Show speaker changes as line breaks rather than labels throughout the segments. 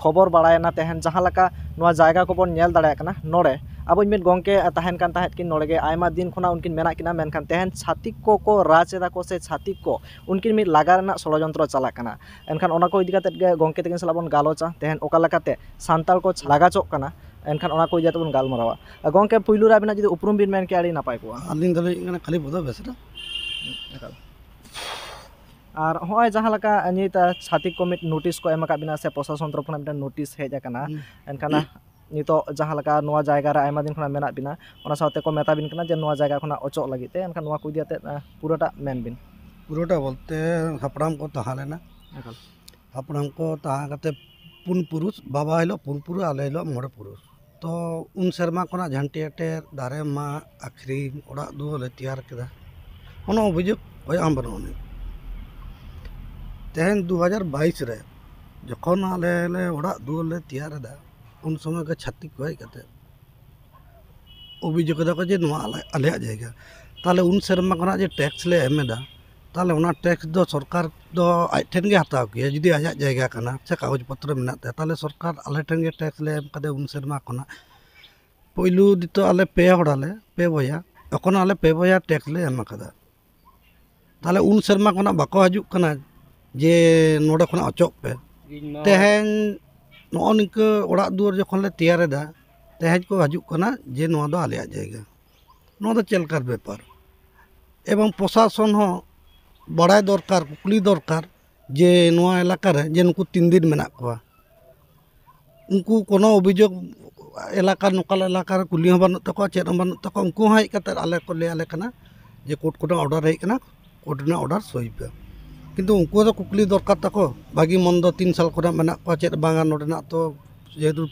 ᱠᱷᱚᱵᱚᱨ ᱵᱟᱲᱟᱭᱮᱱᱟ ᱛᱟᱦᱮᱱ ᱡᱟᱦᱟᱸ ᱞᱮᱠᱟ ᱱᱚᱣᱟ ᱡᱟᱭᱜᱟ ᱠᱚᱵᱚᱱ ᱧᱮᱞ ᱫᱟᱲᱮᱭᱟᱜ ᱠᱟᱱᱟ ᱱᱚᱰᱮ ᱟᱵᱚ ᱤᱡ ᱢᱤᱫ ᱜᱚᱢᱠᱮ ᱛᱟᱦᱮᱱ ᱠᱟᱱ ᱛᱟᱦᱮᱸᱫ ᱠᱤᱱ ᱱᱚᱰᱮ ᱜᱮ ᱟᱭᱢᱟ ᱫᱤᱱ ᱠᱷᱚᱱᱟᱜ ᱩᱱᱠᱤᱱ ᱢᱮᱱᱟᱜ ᱠᱤᱱᱟ ᱢᱮᱱᱠᱷᱟᱱ ᱛᱟᱦᱮᱱ ᱪᱷᱟᱹᱛᱤᱠ ᱠᱚᱠᱚ ᱨᱟᱡᱽ ᱮᱫᱟ ᱠᱚ ᱥᱮ ᱪᱷᱟᱹᱛᱤᱠ ᱠᱚ ᱩᱱᱠᱤᱱ ᱢᱤᱫ ᱞᱟᱜᱟ ᱨᱮᱱᱟᱜ ᱥᱚᱲᱚ ᱡᱚᱱᱛᱨᱚ ᱪᱟᱞᱟᱜ ᱠᱟᱱᱟ ᱮᱱᱠᱷᱟᱱ ᱚᱱᱟ ᱠᱚ ᱤᱫᱤ ᱠᱟᱛᱮᱫ ᱜᱮ ᱜᱚᱢᱠᱮ ᱛᱟᱹᱠᱤᱱ ᱥᱟᱞᱟᱜ ᱵᱚᱱ ᱜᱟᱞᱚᱪᱟ ᱛᱟᱦᱮᱱ ᱚᱠᱟ ᱞᱮᱠᱟᱛᱮ ᱥᱟᱱᱛᱟᱲ ᱠᱚ ᱞᱟᱜᱟ ᱦᱚᱪᱚᱜ ᱠᱟᱱᱟ ᱮᱱᱠᱷᱟᱱ ᱚᱱᱟ ᱠᱚ ᱤᱫᱤ ᱠᱟᱛᱮᱫ ᱵᱚᱱ ᱜᱟᱞᱢᱟᱨᱟᱣᱟ ᱜᱚᱢᱠᱮ ᱯᱳᱭᱞᱳ ᱨᱮ ᱟᱵᱤᱱᱟᱜ ᱡᱩᱫᱤ ᱩᱯᱨᱩᱢ ᱵᱤᱱ ᱢᱮᱱ ᱠᱮᱭᱟ ᱟᱹᱰᱤ ᱱᱟᱯᱟᱭ ᱠᱚᱜᱼᱟ ᱟᱹᱞᱤᱧ ᱫᱚᱞᱤᱧ ᱦᱩᱭᱩᱜ ᱠᱟᱱᱟ ᱠᱟᱞᱤᱯᱚᱫᱚ
ᱵᱮᱥᱨᱟ
ᱟᱨ ᱦᱚᱸᱜᱼᱚᱭ ᱡᱟᱦᱟᱸ ᱞᱮᱠᱟ ᱱᱤᱛ ᱪᱷᱟᱛᱤᱠ ᱠᱚ ᱢᱤᱫ ᱱᱳᱴᱤᱥ ᱠᱚ ᱮᱢ ᱟᱠᱟᱫ ᱵᱮᱱᱟ ᱥᱮ ᱯᱨᱚᱥᱟᱥᱚᱱ ᱛᱚᱨᱚᱯ ᱠᱷᱚᱱᱟᱜ ᱢᱤᱫᱴᱮᱱ ᱱᱳᱴᱤᱥ ᱦᱮᱡ ᱟᱠᱟᱱᱟ ᱮᱱᱠᱷᱟᱱ ᱱᱤᱛᱳᱜ ᱡᱟᱦᱟᱸ ᱞᱮᱠᱟ ᱱᱚᱣᱟ ᱡᱟᱭᱜᱟ ᱨᱮ ᱟᱭᱢᱟ ᱫᱤᱱ ᱠᱷᱚᱱᱟᱜ ᱢᱮᱱᱟᱜ ᱵᱮᱱᱟ ᱚᱱᱟ ᱥᱟᱶᱛᱮ ᱠᱚ ᱢᱮᱛᱟ ᱵᱮᱱ ᱠᱟᱱᱟ ᱡᱮ ᱱᱚᱣᱟ ᱡᱟᱭᱜᱟ ᱠᱷᱚᱱᱟᱜ ᱚᱪᱚᱜ ᱞᱟᱹᱜᱤᱫ ᱛᱮ ᱮᱱᱠᱷᱟᱱ ᱱᱚᱣᱟ ᱠᱚ ᱤᱫᱤ ᱠᱟᱛᱮᱫ ᱯᱩᱨᱟᱹᱴᱟᱜ ᱢᱮᱱ ᱵᱤᱱ ᱯᱩᱨᱟᱹᱴᱟᱜ ᱵᱚᱞᱛᱮ
ᱦᱟᱯᱲᱟᱢ ᱠᱚ ᱛᱟᱦᱮᱸ ᱞᱮᱱᱟ ᱮᱠᱟᱞ ᱦᱟᱯᱲᱟᱢ ᱠᱚ ᱛᱟᱦᱮᱸ ᱠᱟᱛᱮᱫ ᱯᱩᱱ ᱯᱩᱨᱩᱥ ᱵᱟᱵᱟ ᱦᱤᱞᱳᱜ ᱯᱩᱱ ᱯᱩᱨᱩᱥ ᱟᱞᱮ ᱦᱤᱞᱳᱜ ᱢᱚᱬᱮ ᱯᱩᱨᱩᱥ ᱛᱚ ᱩᱱ ᱥᱮᱨᱢᱟ ᱠᱷᱚᱱᱟᱜ ᱡᱷᱟᱹᱱᱴᱤ ᱮᱴᱮᱫ ᱫᱟᱨᱮ ᱢᱟᱜ ᱟᱹᱠᱷᱨᱤᱧ ᱚᱲᱟᱜ ᱫᱩᱣᱟᱹᱨ ᱞᱮ ᱛᱮᱭᱟᱨ ᱠᱮᱫᱟ ᱠᱳᱱᱳ ᱚᱵᱷᱤᱡᱳᱜᱽ ᱦᱩᱭᱩᱜ ᱟᱢ ᱵᱟᱹᱱᱩᱜ ᱟᱹᱱᱤᱡ ᱛᱮᱦᱮᱧ ᱫᱩ ᱦᱟᱡᱟᱨ ᱵᱟᱭᱤᱥ ᱨᱮ ᱡᱚᱠᱷᱚᱱ ᱟᱞᱮ ᱞᱮ ᱚᱲᱟᱜ ᱫᱩᱣᱟᱹᱨ ᱞᱮ ᱛᱮᱭᱟᱨ ᱮᱫᱟ ᱩᱱ ᱥᱚᱢᱚᱭ ᱜᱮ ᱪᱷᱟᱹᱛᱤᱠ ᱠᱚ ᱦᱮᱡ ᱠᱟᱛᱮ ᱚᱵᱷᱤᱡᱳᱜᱽ ᱮᱫᱟ ᱠᱚ ᱡᱮ ᱱᱚᱣᱟ ᱟᱞᱮᱭᱟᱜ ᱡᱟᱭᱜᱟ ᱛᱟᱦᱚᱞᱮ ᱩᱱ ᱥᱮᱨᱢᱟ ᱠᱷᱚᱱᱟᱜ ᱡᱮ ᱴᱮᱠᱥ ᱞᱮ ᱮᱢ ᱮᱫᱟ ᱛᱟᱦᱚᱞᱮ ᱚᱱᱟ ᱴᱮᱠᱥ ᱫᱚ ᱥᱚᱨᱠᱟᱨ ᱫᱚ ᱟᱡ ᱴᱷᱮᱱ ᱜᱮ ᱦᱟᱛᱟᱣ ᱠᱮᱭᱟ ᱡᱩᱫᱤ ᱟᱡᱟᱜ ᱡᱟᱭᱜᱟ ᱠᱟᱱᱟ ᱥᱮ ᱠᱟᱜᱚᱡᱽ ᱯᱚᱛᱨᱚ ᱢᱮᱱᱟᱜ ᱛᱟᱭᱟ ᱛᱟᱦᱚᱞᱮ ᱥᱚᱨᱠᱟᱨ ᱟᱞᱮ ᱴᱷᱮᱱ ᱜᱮ ᱴᱮᱠᱥ ᱞᱮ ᱮᱢ ᱠᱟᱫᱮᱭᱟ ᱩᱱ ᱥᱮᱨᱢᱟ ᱠᱷᱚᱱᱟᱜ ᱯᱳᱭᱞᱳ ᱱᱤᱛᱚᱜ ᱟᱞᱮ ᱯᱮ ᱦᱚᱲ ᱟᱞᱮ ᱯᱮ ᱵᱚᱭᱦᱟ ᱮᱠᱷᱚᱱᱳ ᱟᱞᱮ ᱯᱮ ᱵᱚᱭᱦᱟ ᱴᱮᱠᱥ ᱞᱮ ᱮᱢ ᱠᱟᱫᱟ ᱛᱟᱦᱚᱞᱮ ᱩᱱ ᱥᱮᱨᱢᱟ ᱠᱷᱚᱱᱟᱜ ᱵᱟᱠᱚ ᱦᱤᱡᱩᱜ ᱠᱟᱱᱟ ᱡᱮ ᱱᱚᱰᱮ ᱠᱷᱚᱱᱟᱜ ᱚᱪᱚᱜ ᱯᱮ ᱛᱮᱦᱮᱧ ᱱᱚᱜᱼᱚᱭ ᱱᱤᱝᱠᱟᱹ ᱚᱲᱟᱜ ᱫᱩᱣᱟᱹᱨ ᱡᱚᱠᱷᱚᱱ ᱞᱮ ᱛᱮᱭᱟᱨ ᱮᱫᱟ ᱛᱮᱦᱮᱧ ᱠᱚ ᱦᱤᱡᱩᱜ ᱠᱟᱱᱟ ᱡᱮ ᱱᱚᱣᱟ ᱫᱚ ᱟᱞᱮᱭᱟᱜ ᱡᱟᱭᱜᱟ ᱱᱚᱣᱟ ᱫᱚ ᱪᱮᱫ ᱞᱮᱠᱟᱱ ᱵᱮᱯᱟᱨ ᱮᱵᱚᱝ ᱯᱨᱚᱥᱟᱥᱚᱱ ᱦᱚᱸ ᱵᱟᱲᱟᱭ ᱫᱚᱨᱠᱟᱨ ᱠᱩᱞᱤ ᱫᱚᱨᱠᱟᱨ ᱡᱮ ᱱᱚᱣᱟ ᱮᱞᱟᱠᱟ ᱨᱮ ᱡᱮ ᱱᱩᱠᱩ ᱛᱤᱱ ᱫᱤᱱ ᱢᱮᱱᱟᱜ ᱠᱚᱣᱟ ᱩᱱᱠᱩ ᱠᱳᱱᱳ ᱚᱵᱷᱤᱡᱳᱜᱽ ᱮᱞᱟᱠᱟ ᱞᱳᱠᱟᱞ ᱮᱞᱟᱠᱟ ᱨᱮ ᱠᱩᱞᱤ ᱦᱚᱸ ᱵᱟᱹᱱᱩᱜ ᱛᱟᱠᱚᱣᱟ ᱪᱮᱫ ᱦᱚᱸ ᱵᱟᱹᱱᱩᱜ ᱛᱟᱠᱚᱣᱟ ᱩᱱᱠᱩ ᱦᱚᱸ ᱦᱮᱡ ᱠᱟᱛᱮᱜ ᱟᱞᱮ ᱠᱚ ᱞᱟᱹᱭ ᱟᱞᱮ ᱠᱟᱱᱟ ᱡᱮ ᱠᱳᱨᱴ ᱠᱷᱚᱱᱟᱜ ᱚᱰᱟᱨ ᱦᱮᱡ ᱠᱟᱱᱟ ᱠᱳᱨᱴ ᱨᱮᱱᱟᱜ ᱚᱰᱟᱨ ᱥᱳᱭ ᱯᱮ ᱠᱤᱱᱛᱩ ᱩᱱᱠᱩ ᱦᱚᱸᱛᱚ ᱠᱩᱠᱞᱤ ᱫᱚᱨᱠᱟᱨ ᱛᱟᱠᱚ ᱵᱷᱟᱹᱜᱤ ᱢᱚᱱᱫᱚ ᱛᱤᱱ ᱥᱟᱞ ᱠᱷᱚᱱᱟᱜ ᱢᱮᱱᱟᱜ ᱠᱚᱣᱟ ᱪᱮᱫ ᱵᱟᱝᱟ ᱱᱚᱰᱮᱱᱟᱜ ᱛᱚ ᱡᱮᱦᱮᱛᱩ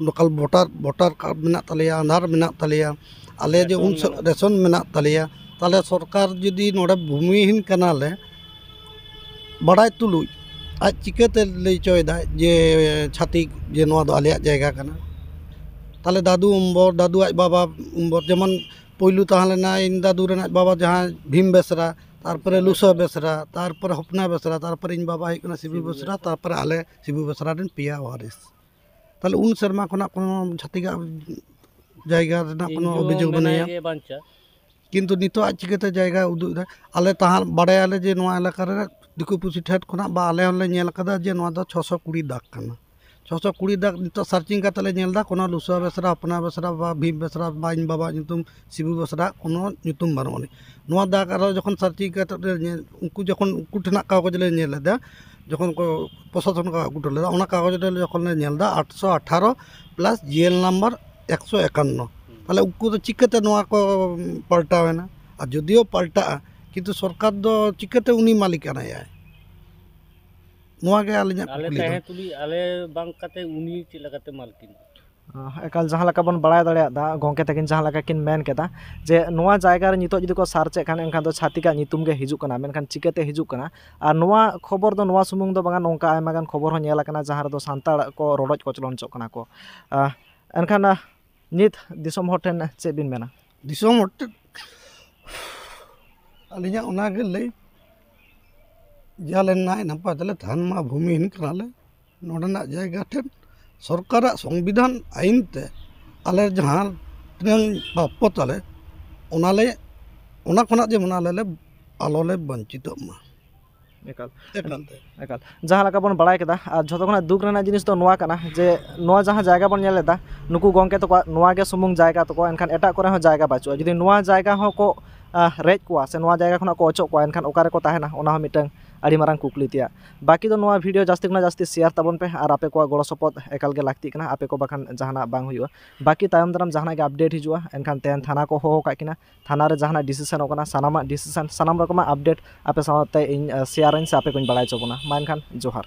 ᱞᱳᱠᱟᱞ ᱵᱷᱳᱴᱟᱨ ᱵᱷᱳᱴᱟᱨ ᱠᱟᱨᱰ ᱢᱮᱱᱟᱜ ᱛᱟᱞᱮᱭᱟ ᱟᱫᱷᱟᱨ ᱢᱮᱱᱟᱜ ᱛᱟᱞᱮᱭᱟ ᱟᱞᱮ ᱡᱮ ᱩᱱ ᱥᱚᱢᱚᱭ ᱨᱮᱥᱚᱱ ᱢᱮᱱᱟᱜ ᱛᱟᱞᱮᱭᱟ ᱛᱟᱦᱚᱞᱮ ᱥᱚᱨᱠᱟᱨ ᱡᱩᱫᱤ ᱱᱚᱰᱮ ᱵᱷᱩᱢᱤᱦᱤᱱ ᱠᱟᱱᱟᱞᱮ ᱵᱟᱲᱟᱭ ᱛᱩᱞᱩᱡ ᱟᱡ ᱪᱤᱠᱟᱹᱛᱮ ᱞᱟᱹᱭ ᱦᱚᱪᱚᱭᱮᱫᱟ ᱡᱮ ᱪᱷᱟᱹᱛᱤᱠ ᱱᱚᱣᱟ ᱫᱚ ᱟᱞᱮᱭᱟᱜ ᱡᱟᱭᱜᱟ ᱠᱟᱱᱟ ᱛᱟᱦᱚᱞᱮ ᱫᱟᱹᱫᱩ ᱚᱢᱵᱚᱨ ᱫᱟᱹᱫᱩ ᱟᱡ ᱵᱟᱵᱟ ᱚᱢᱵᱚᱨ ᱡᱮᱢᱚᱱ ᱯᱳᱭᱞᱳ ᱛᱟᱦᱮᱸ ᱞᱮᱱᱟ ᱤᱧ ᱫᱟᱹᱫᱩ ᱨᱮᱱᱟᱜ ᱵᱟᱵᱟ ᱡᱟᱦᱟᱸᱭ ᱵᱷᱤᱢ ᱵᱮᱥᱨᱟ ᱛᱟᱨᱯᱚᱨᱮ ᱞᱩᱥᱟᱹ ᱵᱮᱥᱨᱟ ᱛᱟᱨᱯᱚᱨᱮ ᱦᱚᱯᱱᱟ ᱵᱮᱥᱨᱟ ᱛᱟᱨᱯᱚᱨᱮ ᱤᱧ ᱵᱟᱵᱟᱭ ᱦᱩᱭᱩᱜ ᱠᱟᱱᱟ ᱥᱤᱵᱩ ᱵᱮᱥᱨᱟ ᱛᱟᱨᱯᱚᱨᱮ ᱟᱞᱮ ᱥᱤᱵᱩ ᱵᱮᱥᱨᱟ ᱨᱮᱱ ᱯᱮᱭᱟ ᱚᱣᱟᱨᱤᱥ ᱛᱟᱦᱚᱞᱮ ᱩᱱ ᱥᱮᱨᱢᱟ ᱠᱷᱚᱱᱟᱜ ᱠᱳᱱᱳ ᱪᱷᱟᱹᱛᱤᱠᱟᱜ ᱡᱟᱭᱜᱟ ᱨᱮᱱᱟᱜ ᱠᱳᱱᱳ ᱚᱵᱷᱤᱡᱳᱜᱽ ᱵᱟᱹᱱᱩᱭᱟ ᱠᱤᱱᱛᱩ ᱱᱤᱛᱳᱜ ᱟᱡ ᱪᱤᱠᱟᱹᱛᱮ ᱡᱟᱭᱜᱟᱭ ᱩᱫᱩᱜ ᱮᱫᱟ ᱟᱞᱮ ᱛᱟᱦᱮᱸ ᱵᱟᱰᱟᱭᱟᱞᱮ ᱡᱮ ᱱᱚᱣᱟ ᱮᱞᱟᱠᱟ ᱨᱮ ᱫᱤᱠᱩ ᱯᱩᱥᱤ ᱴᱷᱮᱱ ᱠᱷᱚᱱᱟᱜ ᱵᱟ ᱟᱞᱮ ᱦᱚᱸᱞᱮ ᱧᱮᱞ ᱠᱟᱫᱟ ᱡᱮ ᱱᱚᱣᱟ ᱫᱚ ᱪᱷᱚᱥᱚ ᱠᱩᱲᱤ ᱫᱟᱜᱽ ᱠᱟᱱᱟ ᱪᱷᱚ ᱥᱚ ᱠᱩᱲᱤ ᱫᱟᱜ ᱱᱤᱛᱚᱜ ᱥᱟᱨᱪᱤᱝ ᱠᱟᱛᱮ ᱞᱮ ᱧᱮᱞ ᱮᱫᱟ ᱠᱳᱱᱳ ᱞᱩᱥᱣᱟ ᱵᱮᱥᱨᱟ ᱦᱚᱯᱚᱱᱟ ᱵᱮᱥᱨᱟ ᱵᱟ ᱵᱷᱤᱢ ᱵᱮᱥᱨᱟ ᱵᱟ ᱤᱧ ᱵᱟᱵᱟᱣᱟᱜ ᱧᱩᱛᱩᱢ ᱥᱤᱵᱩ ᱵᱮᱥᱨᱟ ᱠᱳᱱᱳ ᱧᱩᱛᱩᱢ ᱵᱟᱹᱱᱩᱜ ᱟᱹᱱᱤᱡ ᱱᱚᱣᱟ ᱫᱟᱜ ᱟᱨᱚ ᱡᱚᱠᱷᱚᱱ ᱥᱟᱨᱪᱤᱝ ᱠᱟᱛᱮ ᱞᱮ ᱧᱮᱞ ᱩᱱᱠᱩ ᱡᱚᱠᱷᱚᱱ ᱩᱱᱠᱩ ᱴᱷᱮᱱᱟᱜ ᱠᱟᱜᱚᱡᱽ ᱞᱮ ᱧᱮᱞ ᱮᱫᱟ ᱡᱚᱠᱷᱚᱱ ᱠᱚ ᱯᱨᱚᱥᱟᱥᱚᱱ ᱠᱚ ᱟᱹᱜᱩ ᱦᱚᱴᱚ ᱞᱮᱫᱟ ᱚᱱᱟ ᱠᱟᱜᱚᱡᱽ ᱨᱮ ᱡᱚᱠᱷᱚᱱ ᱞᱮ ᱧᱮᱞ ᱮᱫᱟ ᱟᱴᱥᱚ ᱟᱴᱷᱟᱨᱚ ᱯᱞᱟᱥ ᱡᱤ ᱮᱞ ᱱᱟᱢᱵᱟᱨ ᱮᱠᱥᱚ ᱮᱠᱟᱱᱱᱚ ᱛᱟᱦᱚᱞᱮ ᱩᱱᱠᱩ ᱫᱚ ᱪᱤᱠᱟᱹᱛᱮ ᱱᱚᱣᱟ ᱠᱚ ᱯᱟᱞᱴᱟᱣ ᱮᱱᱟ ᱟᱨ ᱡᱳᱫᱤᱭᱳ ᱯᱟᱞᱴᱟᱜᱼᱟ ᱠᱤᱱᱛᱩ ᱥᱚᱨᱠᱟᱨ ᱫᱚ ᱪᱤᱠᱟᱹᱛᱮ ᱩᱱᱤ ᱢᱟᱹᱞᱤᱠᱟᱱᱟᱭ ᱟᱭ ᱱᱚᱣᱟ ᱜᱮ ᱟᱹᱞᱤᱧᱟᱜ ᱠᱩᱠᱞᱤ ᱫᱚ ᱟᱞᱮ ᱛᱩᱞᱩᱡ ᱟᱞᱮ
ᱵᱟᱝ ᱠᱟᱛᱮ ᱩᱱᱤ ᱪᱮᱫ ᱞᱮᱠᱟᱛᱮ ᱢᱟᱞᱠᱤᱱ ᱮᱠᱟᱞ ᱡᱟᱦᱟᱸ
ᱞᱮᱠᱟ ᱵᱚᱱ ᱵᱟᱲᱟᱭ ᱫᱟᱲᱮᱭᱟᱫᱟ ᱜᱚᱢᱠᱮ ᱛᱟᱹᱠᱤᱱ ᱡᱟᱦᱟᱸ ᱞᱮᱠᱟ ᱠᱤᱱ ᱢᱮᱱ ᱠᱮᱫᱟ ᱡᱮ ᱱᱚᱣᱟ ᱡᱟᱭᱜᱟ ᱨᱮ ᱱᱤᱛᱚᱜ ᱡᱩᱫᱤ ᱠᱚ ᱥᱟᱨᱪ ᱮᱜ ᱠᱷᱟᱱ ᱮᱱᱠᱷᱟᱱ ᱫᱚ ᱪᱷᱟᱹᱛᱤᱠ ᱟᱜ ᱧᱩᱛᱩᱢ ᱜᱮ ᱦᱤᱡᱩᱜ ᱠᱟᱱᱟ ᱢᱮᱱᱠᱷᱟᱱ ᱪᱤᱠᱟᱹᱛᱮ ᱦᱤᱡᱩᱜ ᱠᱟᱱᱟ ᱟᱨ ᱱᱚᱣᱟ ᱠᱷᱚᱵᱚᱨ ᱫᱚ ᱱᱚᱣᱟ ᱥᱩᱢᱩᱝ ᱫᱚ ᱵᱟᱝᱟ ᱱᱚᱝᱠᱟ ᱟᱭᱢᱟ ᱜᱟᱱ ᱠᱷᱚᱵᱚᱨ ᱦᱚᱸ ᱧᱮᱞ ᱠᱟᱱᱟ ᱡᱟᱦᱟᱸ ᱨᱮᱫᱚ ᱥᱟᱱᱛᱟᱲ ᱠᱚ ᱨᱚᱰᱚᱡ ᱠᱚᱪᱞᱚᱱ ᱦᱚᱪᱚᱜ ᱠᱟᱱᱟ ᱠᱚ ᱮᱱᱠᱷᱟᱱ ᱱᱤᱛ ᱫᱤᱥᱚᱢ ᱦᱚᱲ ᱴᱷᱮᱱ ᱪᱮᱫ ᱵᱤᱱ ᱢᱮᱱᱟ ᱫᱤᱥᱚᱢ ᱦᱚᱲ
ᱴᱷᱮᱱ ᱟᱹᱞᱤᱧᱟᱜ ᱚᱱᱟᱜᱮ ᱞᱟᱹᱭ ᱡᱟᱞᱮ ᱱᱟᱭ ᱱᱟᱯᱟᱭ ᱛᱮᱞᱮ ᱛᱟᱦᱮᱱ ᱢᱟ ᱵᱷᱩᱢᱤᱦᱤᱱ ᱠᱟᱱᱟᱞᱮ ᱱᱚᱰᱮᱱᱟᱜ ᱡᱟᱭᱜᱟ ᱴᱷᱮᱱ ᱥᱚᱨᱠᱟᱨᱟᱜ ᱥᱚᱝᱵᱤᱫᱷᱟᱱ ᱟᱹᱭᱤᱱ ᱛᱮ ᱟᱞᱮ ᱡᱟᱦᱟᱸ ᱛᱤᱱᱟᱹᱝ ᱯᱨᱟᱯᱯᱚ ᱛᱟᱞᱮ ᱚᱱᱟᱞᱮ ᱚᱱᱟ ᱠᱷᱚᱱᱟᱜ ᱡᱮᱢᱚᱱ ᱟᱞᱮ ᱞᱮ ᱟᱞᱚᱞᱮ ᱵᱚᱧᱪᱤᱛᱚᱜ ᱢᱟ ᱮᱠᱟᱞ
ᱮᱠᱟᱞ ᱛᱮ ᱮᱠᱟᱞ ᱡᱟᱦᱟᱸ ᱞᱮᱠᱟ ᱵᱚᱱ ᱵᱟᱲᱟᱭ ᱠᱮᱫᱟ ᱟᱨ ᱡᱷᱚᱛᱚ ᱠᱷᱚᱱᱟᱜ ᱫᱩᱠ ᱨᱮᱱᱟᱜ ᱡᱤᱱᱤᱥ ᱫᱚ ᱱᱚᱣᱟ ᱠᱟᱱᱟ ᱡᱮ ᱱᱚᱣᱟ ᱡᱟᱦᱟᱸ ᱡᱟᱭᱜᱟ ᱵᱚᱱ ᱧᱮᱞ ᱮᱫᱟ ᱱᱩᱠᱩ ᱜᱚᱢᱠᱮ ᱛᱟᱠᱚᱣᱟᱜ ᱱᱚᱣᱟ ᱜᱮ ᱥᱩᱢᱩᱝ ᱡᱟᱭᱜᱟ ᱛᱟᱠᱚ ᱮᱱᱠᱷᱟᱱ ᱮᱴᱟᱜ ᱠᱚᱨᱮ ᱦᱚᱸ ᱡᱟᱭᱜᱟ ᱵᱟᱹᱪᱩᱜᱼᱟ ᱡᱩᱫᱤ ᱱᱚᱣᱟ ᱡᱟᱭᱜᱟ ᱦᱚᱸ ᱠᱚ ᱨᱮᱡ ᱠᱚᱣᱟ ᱥᱮ ᱱᱚᱣᱟ ᱡᱟᱭᱜᱟ ᱠᱷᱚᱱᱟᱜ ᱠᱚ ᱚᱪᱚᱜ ᱠᱚᱣᱟ ᱮᱱᱠᱷᱟᱱ ᱚᱠᱟ ᱨᱮᱠᱚ ᱛᱟᱦᱮᱱᱟ ᱚᱱᱟ ᱦᱚᱸ ᱢᱤᱫᱴᱟᱹᱝ ᱟᱹᱰᱤ ᱢᱟᱨᱟᱝ ᱠᱩᱠᱞᱤ ᱛᱮᱭᱟᱜ ᱵᱟᱹᱠᱤ ᱫᱚ ᱱᱚᱣᱟ ᱵᱷᱤᱰᱭᱳ ᱡᱟᱹᱥᱛᱤ ᱠᱷᱚᱱᱟᱜ ᱡᱟᱹᱥᱛᱤ ᱥᱮᱭᱟᱨ ᱛᱟᱵᱚᱱ ᱯᱮ ᱟᱨ ᱟᱯᱮ ᱠᱚᱣᱟᱜ ᱜᱚᱲᱚ ᱥᱚᱯᱚᱦᱚᱫ ᱮᱠᱟᱞ ᱜᱮ ᱞᱟᱹᱠᱛᱤᱜ ᱠᱟᱱᱟ ᱟᱯᱮ ᱠᱚ ᱵᱟᱠᱷᱟᱱ ᱡᱟᱦᱟᱱᱟᱜ ᱵᱟᱝ ᱦᱩᱭᱩᱜᱼᱟ ᱵᱟᱹᱠᱤ ᱛᱟᱭᱚᱢ ᱫᱟᱨᱟᱢ ᱡᱟᱦᱟᱱᱟᱜ ᱜᱮ ᱟᱯᱰᱮᱴ ᱦᱤᱡᱩᱜᱼᱟ ᱮᱱᱠᱷᱟᱱ ᱛᱮᱦᱮᱧ ᱛᱷᱟᱱᱟ ᱠᱚ ᱦᱚᱦᱚ ᱟᱠᱟᱫ ᱠᱤᱱᱟ ᱛᱷᱟᱱᱟ ᱨᱮ ᱡᱟᱦᱟᱱᱟᱜ ᱰᱤᱥᱤᱥᱮᱱᱚᱜ ᱠᱟᱱᱟ ᱥᱟᱱᱟᱢᱟᱜ ᱰᱤᱥᱤᱥᱮᱱ ᱥᱟᱱᱟᱢ ᱨᱚᱠᱚᱢᱟᱜ ᱟᱯᱰᱮᱴ ᱟᱯᱮ ᱥᱟᱶᱛᱮ ᱤᱧ ᱥᱮᱭᱟᱨᱟᱹᱧ ᱥᱮ ᱟᱯᱮ ᱠᱚᱧ ᱵᱟᱲᱟᱭ ᱦᱚᱪᱚ ᱵᱚᱱᱟ ᱢᱟ ᱮᱱᱠᱷᱟᱱ ᱡᱚᱦᱟᱨ